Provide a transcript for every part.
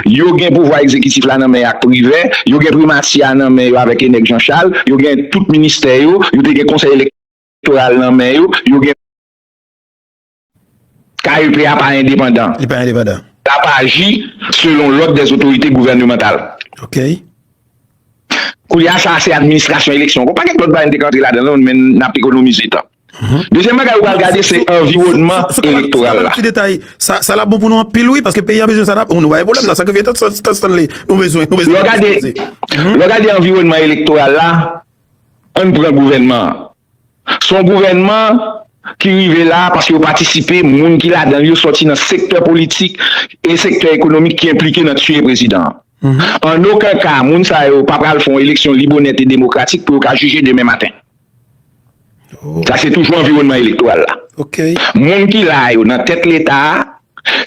Yo gen pouvwa egzekitif la nan men ak Privè, yo gen primati a nan men yo avèk Enèk Jan Chal, yo gen tout ministè yo, yo te gen konsèy elektoral nan men yo, yo gen. KEP a pa endepandan. Li pa endepandan. L ap aji selon lòd dè zotorite gouvènemantal. Ok. Koulye a sa a se administrasyon eleksyon. Gon pakèt lòt bagay nou te ka antre ladan l men n ap ekonomize tan. Dezyèm bagay ou pral gade se anviwònman elektoral la. Lè w gade anviwònman elektoral la, ann pran gouvènman an. Se yon gouvènman ki rive la paske yo patisipe, moun ki ladan l yo soti nan sektè politik e sektè ekonomik ki enplike nan tiye prezidan an. An oken ka, moun sa yo pa pral fè yon eleksyon lib, onèt e demokratik pou yo ka jije demen maten. Sa se toujou anviwònman elektoral la. Moun ki la a yo nan tèt Leta a,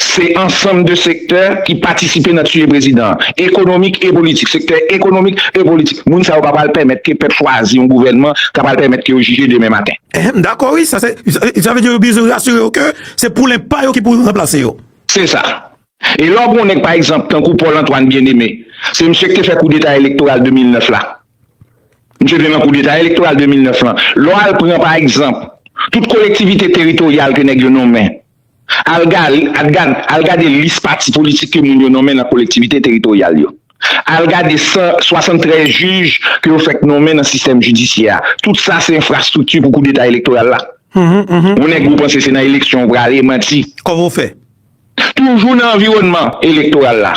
se ansanm de sektè ki patisipe nan tiye prezidan an, ekonomik e politik, sektè ekonomik e politik. Moun sa yo pa pral pèmèt ke pèp chwazi yon gouvènman ka pral pèmèt ke yo jije demen maten. M dakò wi, sa se, sa vle di yo bezwen rasire yo ke se poulen pa yo ki pou ranplase yo. Se sa. E lè w gen yon nèg pa egzanp tankou Paul Antoine Bien-Aimé, se misye ki te fè koudeta elektoral 2009 la. Misye vle nan koudeta elektoral 2009 lan. Lè w al pran pa egzanp tout kolektivite teritoryal ke nèg yo nonmen, al gade lis pati politik ke moun yo nonmen nan kolektivite teritoryal yo, al gade 173 jij ke yo fèk nonmen nan sistèm jidisyè a, tout sa se enfrastrikti pou koudeta elektoral la. Yon nèg ou panse se nan eleksyon ou prale, manti. Kòman w fè? Toujou nan anviwònman elektoral la.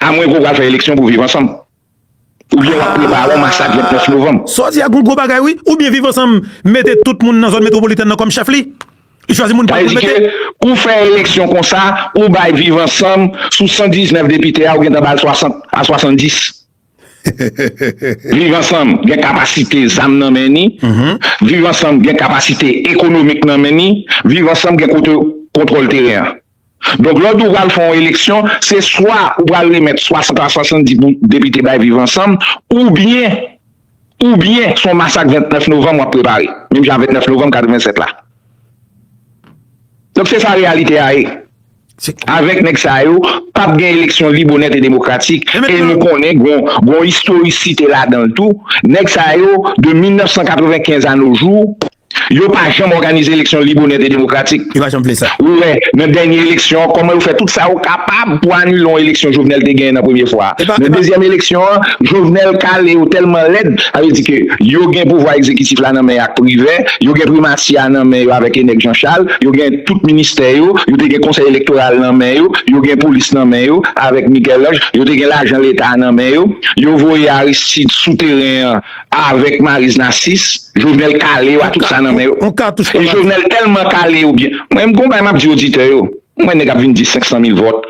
A mwen ke w pral fè eleksyon pou viv ansanm? Oubyen w ap prepare yon masak 29 novanm? Sa w di a gon gwo bagay wi. Oubyen viv ansanm mete tout moun nan zòn metwopolitèn nan kòm chèf li? Li chwazi moun pa l pou l mete? Sa vle di ke ou fè eleksyon konsa, ou bay viv ansanm sou 119 depite a ou gentan ba l 60 a 70. Viv ansanm gen kapasite zam nan men ni, viv ansanm gen kapasite ekonomik nan men ni, viv ansanm gen kote kontwòl teren an. Donk lò ou pral fè yon eleksyon, se swa ou pral remèt 60 a 70 pou depite bay Viv Ansanm, oubyen oubyen se yon masak 29 novanm w ap prepare, menm jan a 29 novanm 87 la. Donk se sa reyalite a ye. Avèk nèg sa yo, p ap gen eleksyon lib, onèt e demokratik. E nou konnen gen yon istorisite ladan l tou. Nèg sa yo, de 1995 anojou. Yo pa janm òganize eleksyon lib, onèt e demokratik. Yo pa janm vle sa. Ou wè, nan dènye eleksyon an, kòman yo fè tout sa yo kapab pou anile yon eleksyon Jovenel te genyen nan premye fwa a. Nan dezyèm eleksyon an, Jovenel kale yo tèlman lèd, sa vle di ke yo gen pouvwa egzekitif la nan men ak Privè, yo gen Primati a nan men yo avèk Enèk Jan Chal, yo gen tout ministè yo, yo te gen Konsèy Elektoral nan men yo, yo gen Polis nan men yo avèk Miguel Ange, yo te gen lajan Leta a nan men yo. Yo voye Aristide sou teren an. Avèk Maryse Narcisse, Jovenel kale yo a tout sa nan men yo. E Jovenel tèlman kale yo byen. Mwen m gon bagay map di oditè yo. M wè nèg ap vin di 500 mil vòt.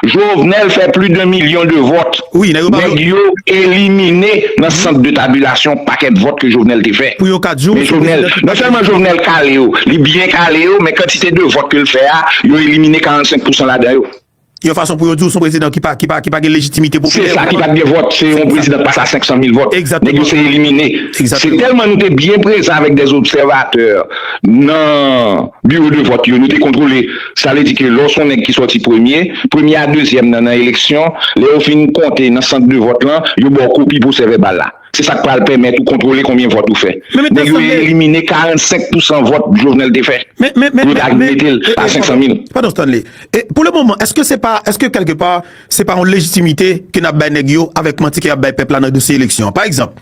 Jovenel fè pli de milyon de vòt. Nèg yo elimine nan sant de tabilasyon pakèt vòt ke Jovenel te fè. Men Jovenel, non sèlman Jovenel kale yo, li byen kale yo, men kantite de vòt ke l fè a, yo elimine 45 pousan ladan yo. Yon fason pou yo di w se yon prezidan ki pa ki pa gen lejitimite popilè. Se sa, ki pa t gen vòt. Se yon prezidan k pase a 500 mil vòt. Nèg yo se elimine. Se tèlman nou te byen prezan avèk dè obsèvatè nan biwo de vòt yo, nou te kontwole. Sa vle di ke lè w se yon nèg ki sòti premye, premye a dezyèm nan nan eleksyon, lè yo fin konte nan sant de vòt lan, yo ba w kopi pwosè vèbal la. Se sa k pral pèmèt ou kontwole konbyen vòt ou fè. Nèg yo elimine 45 pousan vòt Jovenel te fè pou yo ta vin mete l a 500 mil. Padon Stanley. E pou le moman, èske se pa, èske kèlke pa, se pa yon lejitimite ke n ap bay nèg yo avèk manti ke y ap bay pèp la nan dosye eleksyon an? Pa egzanp,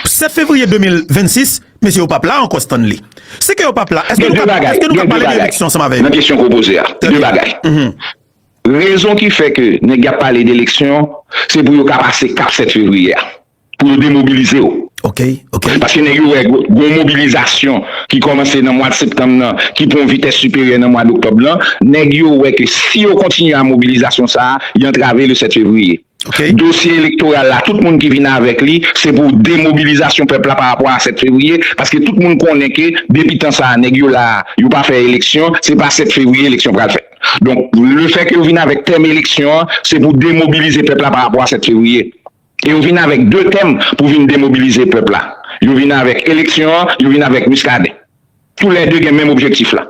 7 fevriye 2026, mesye yo p ap la ankò Stanley. Se ke yo p ap la, èske nou ka, èske nou ka pale de eleksyon ansanm avè yo? Gen 2 bagay, nan kesyon ke w poze a. Gen 2 bagay. Rezon ki fè ke nèg y ap pale de eleksyon, se pou yo ka pase kap 7 fevriye a, pou yo demobilize yo. Ok, ok. Paske nèg yo wè gon mobilizasyon ki kòmanse nan mwad septanm nan, ki pran yon vitès siperyè nan mwad oktòb lan, nèg yo wè ke si yo kontinye a mobilizasyon sa a, y antrave le 7 fevriye. Dosye elektoral la tout moun ki vin avèk li se pou demobilizasyon pèp la pa rapò a 7 fevriye paske tout moun konnen ke depi tan sa a nèg yo la a yo pa fè eleksyon se pa 7 fevriye eleksyon pral fèt donk le fè ke yo vin avèk tèm eleksyon an se pou demobilize pèp la pa rapò a 7 fevriye e yo vin avèk 2 tèm pou vin demobilize pèp la yo vin avèk eleksyon an yo vin avèk Muscadin. Tou lè 2 gen menm objektif la.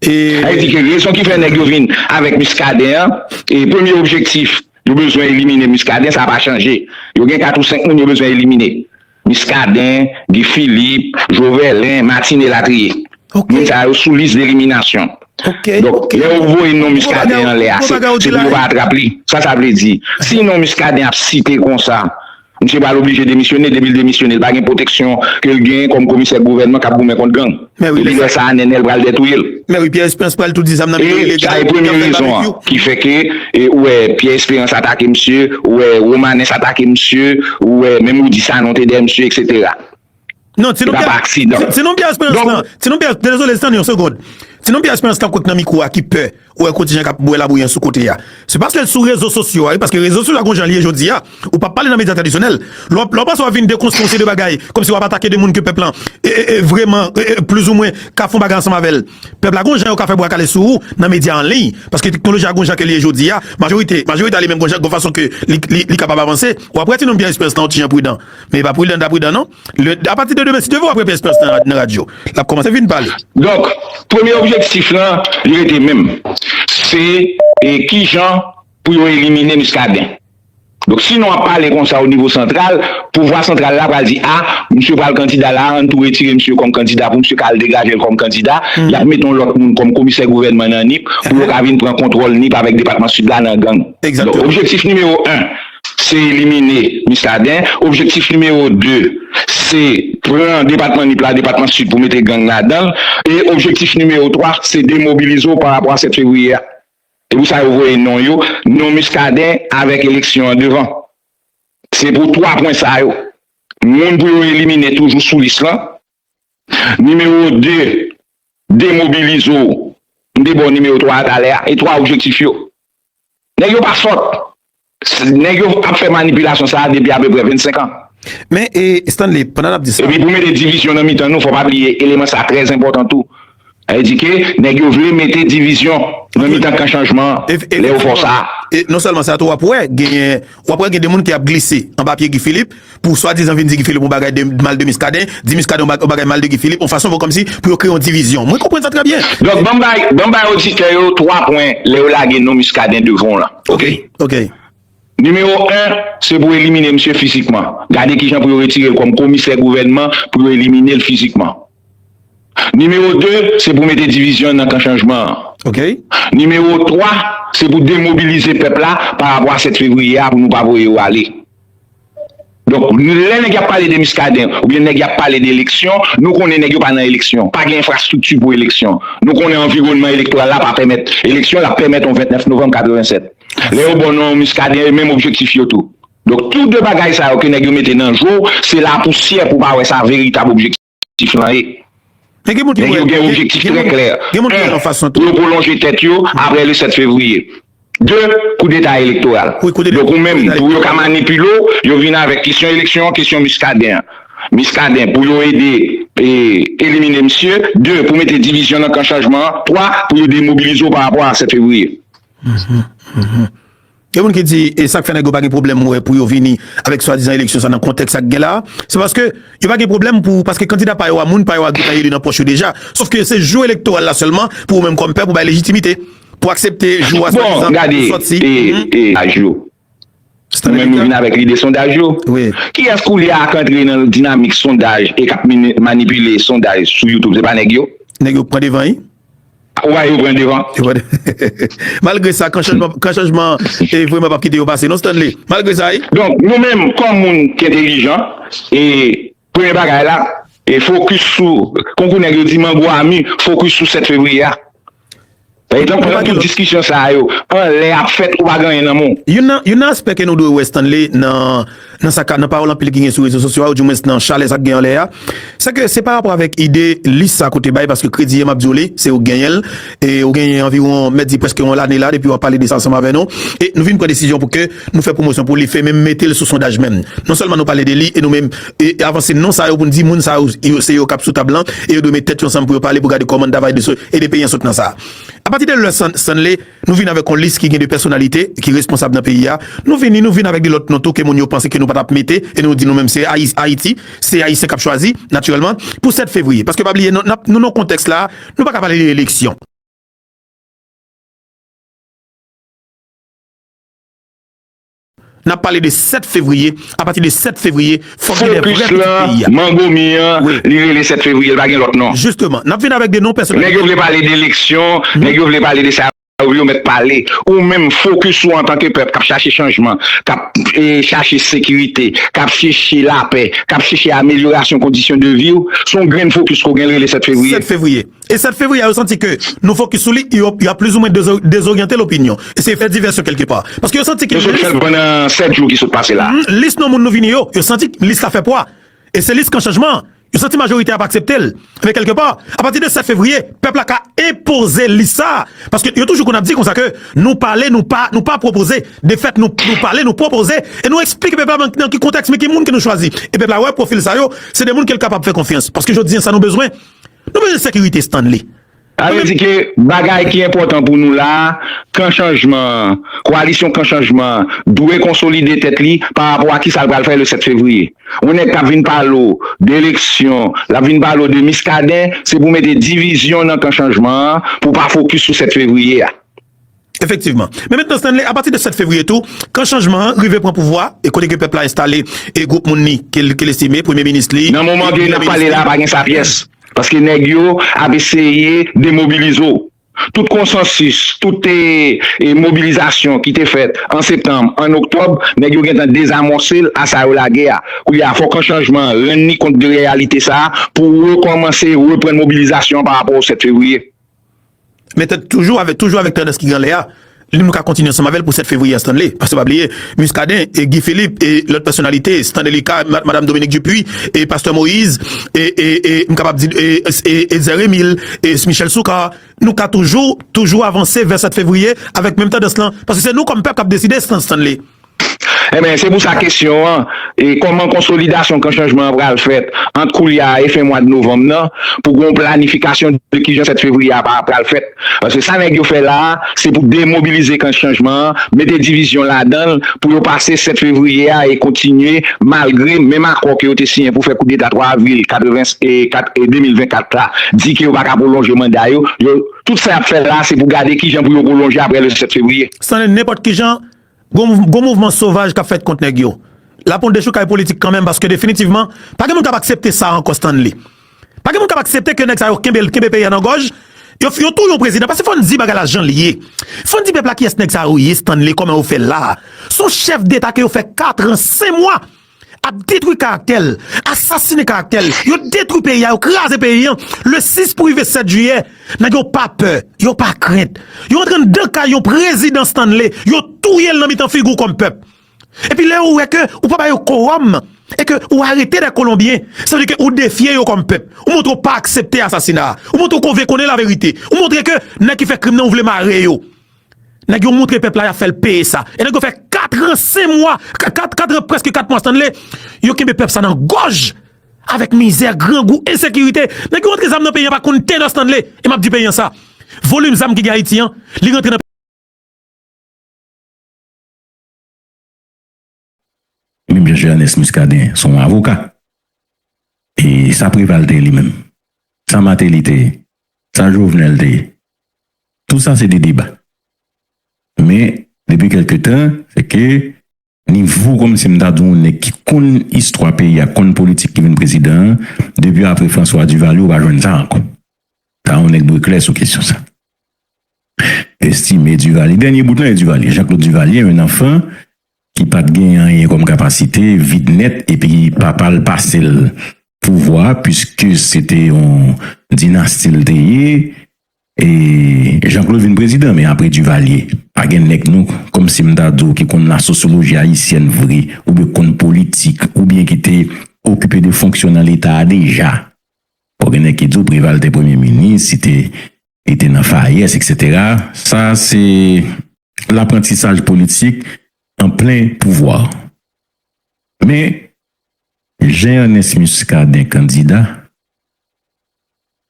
Sa vle di ke rezon ki fè nèg yo vin avèk Muscadin an, e premye objektif yo bezwen elimine Muscadin, sa pa chanje. Yo gen 4 ou 5 moun yo bezwen elimine. Muscadin, Guy Philippe, Joverlin, Martine elatriye. Moun sa yo sou lis deliminasyon. Donk, lè ou voye non Muscadin anlè a, se pou yo pa atrap li. Sa sa vle di. Si non Muscadin ap site konsa, Misye pral oblije demisyone, depi l demisyone l pa gen pwoteksyon ke l gen kòm komisè gouvènman k ap goumen kont gang. Epi lè sa a Nènèl pral dètouye l. Mè wi, Pyè Esperans pral tou di zam nan men yo ilegal, yo ap fè babekyou. E sa e premye rezon an ki fè ke ou wè Pyè Esperans atake misye, ou wè Romanès atake misye, ou wè menm Rudy Sanon te dèyè misye eksetera. Non, ti non Pierre. Se pa pa aksidan. Ti non Pierre Esperance nan. Ti non Pierre, dezole, stann yon segond. Ti non Pierre Esperance kap kwè k nan mikwo a ki pè. Ou wè kontijan kap bwè labouyi an sou kote a. Se paske l sou rezo sosyo a wi, paske rezo sosyo a gon jan l ye jodi a. Ou pap pale nan medya tradisyonèl. Lè w panse wap vin dekonstwi yon seri de bagay, kòmsi wap atake de moun ke pèp lan vreman, pliz ou mwen, ka fon bagay ansanm avè l. Pèp la gon jan yo ka fè bwa kale sou ou nan medya an liy. Paske teknoloji a gon jan ke li ye jodi a. Majorite, majorite a li menm gon jan, gon fason ke li kapab avanse. Wap wè ti non Pierre Esperance lan yon ti jan pridan. Men epa pridan ta pridan non. Le a pati de demen si Dieu veut wap repè esperans nan nan radio. Lap komanse vin pale. Donk premye objektif lan li rete menm se kijan pou yo elimine Muscadin. Donk si nou ap pale konsa o nivo santral, pouvwa santral la pral di a misye pral kandida la an tou retire misye kòm kandida pou misye ka al degajel kòm kandida, yap mete yon lòt moun kòm komisè gouvènman nan Nip pou yo ka vin pran kontwòl Nip avèk depatman Sid la nan gang. Donk objektif nimewo 1 se elimine Miskaden. Objektif nimewo 2, se pran depatman Nip la, depatman Sid pou mete gang ladan l. E objektif nimewo 3, se demobilize w pa rapò a 7 fevriye a. Se pou sa yo voye non yo, non Miskaden avèk eleksyon an devan. Se pou 3 pwen sa yo. Moun pou yo elimine toujou sou lis lan. Nimewo 2, Demobilize w M te ba w nimewo 3 a talè a e 3 objektif yo. Nèg yo pa sòt. Nèg yo ap fè manipilasyon sa a depi apeprè 25 an. Men, e, Stanley, pandan n ap di sa. Epi pou mete divizyon nan mitan nou, fò w pa bliye eleman sa a trè enpòtan tou. Sa vle di ke nèg yo vle mete divizyon nan mitan kan chanjman an lè yo fè w sa a. E, nonsèlman sa tou, w ap wè genyen, w ap wè gen de moun ki ap glise anba pye Guy Philippe. Pou swadizan vin di Guy Philippe yon bagay de mal de Muscadin, di Muscadin yon bagay mal de Guy Philippe, yon fason fè kòmsi pou yo kreye yon divizyon. Mwen konprann sa trè byen. Donk banm bay, banm bay oditè yo 3 pwen lè yo lage non Muscadin devan w lan. Ok? Ok. Nimewo 1, se pou elimine misye fizikman. Gade kijan pou yo retire l kòm komisè gouvènman pou yo elimine l fizikman. Nimewo 2, se pou mete divizyon nan kan chanjman an. Nimewo 3, se pou demobilize pèp la pa rapò a 7 fevriye a pou nou pa voye yo ale. Donk, lè nèg y ap pale de Miskaden oubyen nèg y ap pale de eleksyon, nou konnen nèg yo pa nan eleksyon. Pa gen enfrastrikti pou eleksyon. Nou konnen anviwònman elektoral la pa pèmèt eleksyon, l ap pèmèt yon 29 novanm 87. Lè yo ba w non Miskaden, e menm objektif yo tou. Donk tou 2 bagay sa yo ke nèg yo mete nan je w, se lapousyè pou w pa wè sa veritab objektif lan ye. Nèg yo gen objektif trè klè, 1 pou yo pwolonje tèt yo apre le 7 fevriye, 2 koudeta elektoral. Donk ou menm pou yo ka manipile w, yo vin avèk kesyon eleksyon, kesyon Muscadin an. Muscadin pou yo ede elimine misye, 2 pou mete divizyon nan kan chanjman an, 3 pou yo demobilize w pa rapò a 7 fevriye. Gen moun ki di e sak fè nèg yo pa gen pwoblèm wè pou yo vini avèk swadizan eleksyon sa nan kontèks sa k gen la a, se paske yo pa gen pwoblèm pou paske kandida pa yo a moun pa yo a gentan eli nan pòch yo deja, sof ke se jou elektoral la sèlman pou ou menm kòm pèp ou bay lejitimite pou aksepte jou a swadizan pou yo sòti. Bon gade e aj yo nou menm nou vin avèk lide sondaj yo, kiyès koulye a k antre nan dinamik sondaj e k ap manipile sondaj sou youtube se pa nèg yo? Nèg yo k pran devan wi. Wa yo pran devan. Malgre sa, kan chanjman e vreman pap kite yo pase non Stanley. Malgre sa wi. Donk nou menm kòm moun ki entelijan e premye bagay la e fokis sou konkou nèg yo di mango a mi fokis sou 7 fevriye a. Pa egzanp pandan tout diskisyon sa yo anlè ap fèt ou pa gen anyen nan men w. Youn nan aspè ke nou dwe wè Stanley nan. Nan sa ka, nan pawòl anpil ki gen sou rezo sosyo a, ou di mwens nan chalè sa k gen anlè a, se ke se pa rapò avèk ide lis sa ke w te bay, paske kredi a m ap di w li, se ou k genyen l, e ou genyen anviwon, m mèt di prèske yon lane la depi w ap pale de sa ansanm avè nou, e nou vin pran desizyon pou ke nou fè pwomosyon pou li, fè menm mete l sou sondaj menm. Non sèlman nou pale de li, e nou menm e avanse non sa yo pou n di moun sa yo se yo k ap sou tab lan, e yo dwe met tèt yo ansanm pou yo pale pou gade kòman n ta va ede peyi an sot nan sa. Apati de lè Stanley. Nou vini avèk yon lis ki gen de pèsonalite ki responsab nan peyi a. Nou vini, nou vini avèk de lòt non tou ke moun yo panse ke nou pa tap mete e nou di nou menm se Ayiti, se Ayisyen kap chwazi, natirèlman, pou 7 fevriye. Paske pa bliye, nap, nou nan kontèks la, nou pa ka pale de eleksyon. Nap pale de 7 fevriye, a pati de 7 fevriye fòk gen 2 vrè pitit peyi a. Focus lan mango mi an, li rele 7 fevriye, li pa gen lòt non. Justement, nap vin avèk 2 non pèsonalite. Nèg yo vle pale de eleksyon, nèg yo vle pale de sa yo vle yo mèt pale. Ou menm focus ou antanke pèp kap chache chanjman, kap chache sekirite, kap cheche lapè, kap cheche amelyorasyon kondisyon de viw, son grenn focus ke w gen li rele 7 fevriye. 7 fevriye. E 7 fevriye a yo santi ke nou fokis sou li, yo ap plizoumwen dezoryante lopinyon. E se fè divèsyon kèlke pa. Paske yo santi ke lis. Nou sot fè pandan 7 jou ki sot pase la. Lis non moun nou vini yo, yo santi lis la fè pwa. E se lis kan chanjman an. Yo santi majorite a pa aksepte l. Men kèlke pa, apati de 7 fevriye, pèp la ka enpoze lis sa a. Paske yo toujou konn ap di konsa ke nou pale nou pa, nou pa pwopoze. Defèt nou pale, nou pwopoze. E nou eksplike pèp la nan ki kontèks men ki moun ke nou chwazi. E pèp la wè pwofil sa yo, se de moun ke l kapab fè konfyans. Paske jodi an sa nou bezwen, Nou bezwen sekirite Stanley. Sa vle di ke bagay ki enpòtan pou nou la a, Kan Chanjman an, Koalisyon Kan Chanjman an, dwe konsolide tèt li pa rapò a kisa l pral fè le 7 fevriye. Yon nèg k ap vin pale w de eleksyon, l ap vin pale w de Miskaden, se pou mete divizyon nan Kan Chanjman an pou pa fokis sou 7 fevriye a. Efektivman. Men mentnan Stanley, apati de 7 fevriye tou, kan chanjman an rive pran pouvwa e kote ke pèp la enstale e gwoup moun li ke l estime, premye minis li, Nan moman ke n ap pale la, pa gen sa pyès, paske nèg yo ap eseye demobilize w. Tout konsansis, tout mobilizasyon ki te fèt an septanm, an oktòb, nèg yo gentan dezamòse l a sa yo lage a. Koulye a, fò kan chanjman an rann li kont de reyalite sa a pou rekòmanse, reprann mobilizasyon an parapò o 7 fevriye. Men tèt toujou avèk toujou avèk tandans ki gen anlè a, li menm nou ka kontinye ansanm avè l pou 7 fevriye a Stanley. Paske pa bliye Muscadin e Guy Philippe e lòt pèsonalite Stanley Lika, Madam Dominique Dupuy e Pastè Moise e e e m kapab di e e Etzer Emile e Michel Soukar nou ka toujou toujou avanse vè 7 fevriye avèk menm tandans lan paske se nou kòm pèp k ap deside Stanley. Enben, se pou sa kesyon an, Kòman konsolidasyon Kan Chanjman an pral fèt ant koulye a e fen mwad novanm nan pou gen yon planifikasyon de kijan 7 fevriye a pral fèt? Paske sa nèg yo fè la a, se pou demobilize Kan Chanjman an, mete divizyon ladan l pou yo pase 7 fevriye a e kontinye malgre menm akò ke yo te siyen pou fè koudeta 3 avril 84 e 2024 la di ke yo pa ka pwolonje manda yo. Tout sa y ap fè la a, se pou gade kijan pou yo pwolonje aprè le 7 fevriye. San nenpòt kijan, Gon mouvman sovaj kap fèt kont nèg yo. Lap yon dechoukay politik kanmenm paske definitivman pa gen moun kap aksepte sa ankò Stanley. Pa gen moun kap aksepte ke nèg sa yo kenbe kenbe peyi a nan gòj, yo touye yon prezidan paske fòn di bagay la janl ye. Fòn di pèp la kiyès nèg sa yo ye Stanley kòman yo fèl la. Son chèf deta ke yo fè katran sen mwa. ap detwi karaktè l, asasine karaktè l, yo detwi peyi a, yo kraze peyi an, le 6 pou rive 7 jiyè, nèg yo pa pè, yo pa krent, yo antre anndan kay yon prezidan Stanley, yo touye l nan mitan figi w kòm pèp. Epi lè yo wè ke ou pa ba yo kowòm, e ke ou arete dè kolonbyen, sa vle di ke ou defye yo kòm pèp, ou montre ou pa aksepte asasina a, ou montre ou konvenkonnen laverite, ou montre ke nèg ki fè krim nan ou vle mare yo. Nèg yo montre pèp la yap fèl peye sa. E nèg yo fè 4 ans 5 mwa, 4 ans preske 4 mwa Stanley, yo kenbe pèp sa nan gòj avèk mizè, grangou, ensekirite. Nèg yo rantre zam nan peyi an pa konn te nan Stanley. E map di peyi an sa, volim zam ki gen Ayiti an, li rantre nan. Menm jan Jeannès Muscadin se yon avoka. E sa Preval te ye li menm? Sa Martelly te ye? Sa Jovenel te ye? Tout sa se de deba. Men, depi kèlke tan, se ke. Nivo kòm si m ta di w yon nèg ki konn istwa peyi a, konn politik ki vin prezidan an, depi apre François Duvalier ou pa jwenn sa ankò. Sa yon nèg dwe klè sou kesyon sa. Estimé Duvalier, dènye bout lan e Duvalier. Jean-Claude Duvalier, un enfant ki pat gen anyen kòm kapasite, vid nèt epi papa l pase l pouvwa a puiske se te yon dinasti l te ye e Jean Claude vin prezidan men apre Duvalier pa gen nèg nou kòm si m ta di w ki konn lasosoloji ayisyèn vre oubyen ki konn politik oubyen ki te okipe de fonksyon nan leta a deja bon gen nèg ki di w Preval te premye minis li te. li te nan Fayes etc. Sa se laprantisaj politik an plen pouvwa. Men Jean Ernest Muscadin kandida,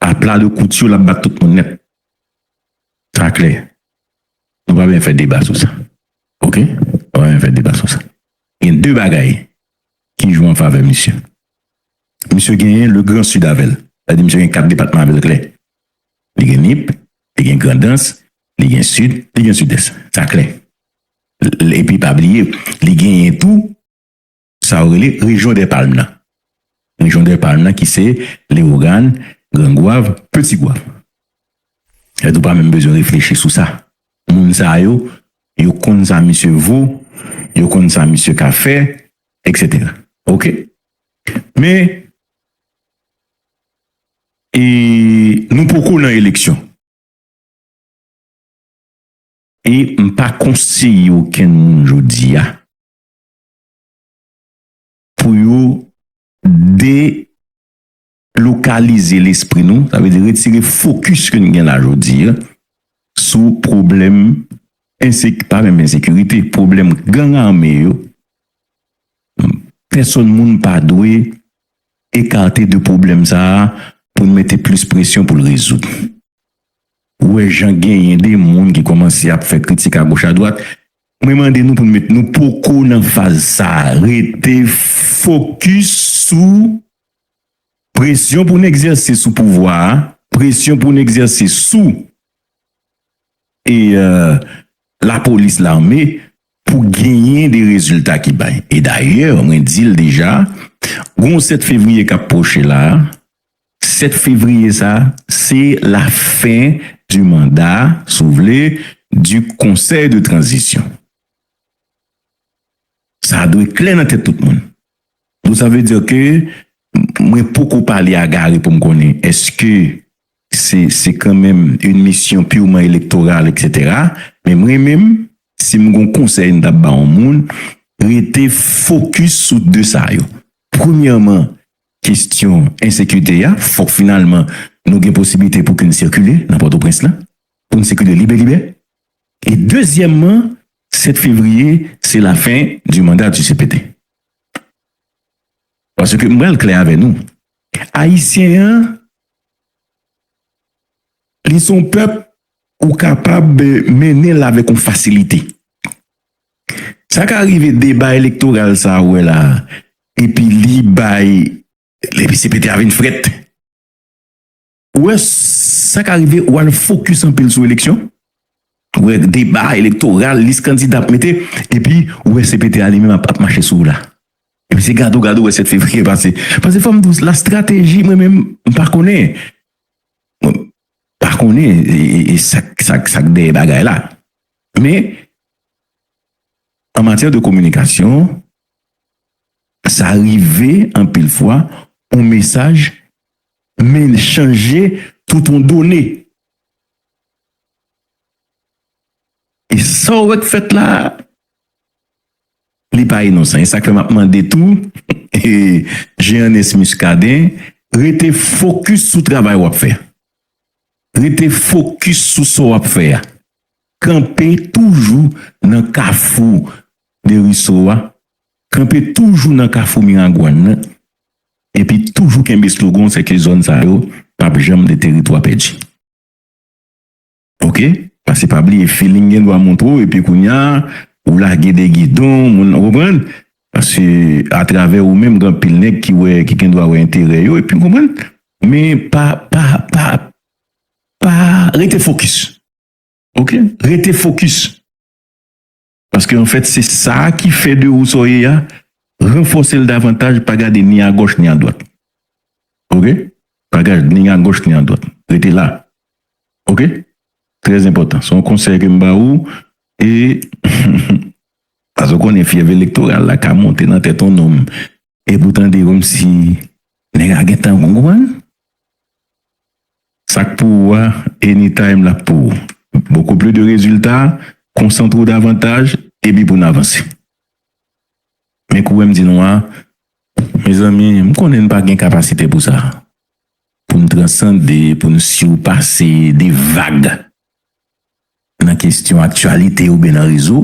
a pla de kouti w lap bat tout moun nèt. Sa klè. Nou pa bezwen fè deba sou sa. Ok. Nou pa bezwen fè deba sou sa. Gen 2 bagay ki jwe an favè misye. Misye genyen le grand sud avè l. Sa vle di misye gen 4 depatman avè l klè. Li gen Nip, li gen Grandans, li gen Sid, li gen Sidès. Sa klè. Epi pa bliye, li genyen tou sa yo rele rejyon dè palm nan. Rejyon dè palm nan ki se Lewogàn, Gran Gwav, Peti Gwav. Èske ou pa menm bezwen reflechi sou sa? Moun sa yo, yo konn sa misye vo, yo konn sa misye ka fè, eksetera. Oke? Men, E nou poko nan eleksyon. E m pa konseye okenn moun jodi a pou yo delokalize lespri nou, sa vle di retire fokis ke n gen la jodi a sou pwoblèm ense, pa menm ensekirite, pwoblèm gang ame yo. Pèsonn moun pa dwe. ekate de pwoblèm sa a pou n mete plis presyon pou l rezoud. Ou wè jan genyen de moun ki kòmanse ap fè kritik agoch adwat, mwen mande nou pou n met nou poko nan faz sa a, rete fokis sou presyon pou n egzèse sou pouvwa a, presyon pou n egzèse sou e lapolis, lame pou genyen de rezilta ki bay. E dayè, mwen di l deja, gen yon 7 fevriye k ap pwoche la, 7 fevriye sa a, se la fen di manda, si w vle, di konsèy de tranzisyon. Sa dwe klè nan tèt tout moun. Donk sa vle di ke mwen poko pale a Gary pou m konnen èske Se kanmenm yn misyon purement electoral etc. Men mwen menm sim gon konsèy m tap ba yon moun rete focus sou 2 sa yo. Premyèman kestyon ensekirite a fok finalman nou gen posibilite pou kinn sikile nan potoprens la poun sikile libe libè e dezyèman 7 fevriye se la fin du mandat du cpt. Paske m pral klè avè nou ayisyen an Li son pèp ou kapab mennen l avèk yon fasilite. Sa ka rive deba elektoral sa ou wè la epi li bay epi cpt a vin frèt. Ou wè sa ka rive ou al fokis anpil sou eleksyon ou wè deba elektoral lis kandida ap mete epi ou wè cpt a li menm ap mache sou ou la. Epi se gade w gade w wè 7 fevriye pase. Pase fò m di w la strateji mwen menm m pa konnen. Mwen pa konnen e sa k dèyè bagay la. Men an matyè de kominikasyon sa rive anpil fwa yon mesaj men l chanje tout yon done. E sa w wè k fèt la a. Li pa inosan e sak fè map mande tou Jeannès Muscadin rete fokis sou travay wap fè rete fokis sou sa wap fè a kanpe toujou nan kafou Deriso a kanpe toujou nan kafou Miragwàn nan epi toujou kenbe slogan w se ke zòn sa yo pap janm de teritwa pèdi. Ok pase pa bliye feeling gen dwa montre w epi kounya ou lage de gidon moun ou konprann paske atravè ou menm gen anpil nèg ki wè ki gen dwa wè enterè yo epi ou konprann men pa pa pa pa rete fokis ok rete fokis. Paske anfèt se sa a ki fè de ou sa w ye a, ranfòse l davantaj, pa gade ni agòch ni adwat. Ok. Pa gad ni agòch ni adwat. Rete la. Ok. Trè enpòtan. Se yon konsèy ke m ba ou e Paske ou konnen fyèv elektoral la ka monte nan tèt yon nonm e pou tande kòmsi nèg la gen tan konprann. Sak pou ou a anytime lap pou ou beaucoup plus de rezilta konsantre w davantaj epi pou n avanse men kouwè m di nou a mezanmi m konnen n pa gen kapasite pou sa pou n transande pou n surpase de vag nan kesyon aktyalite oubyen nan rezo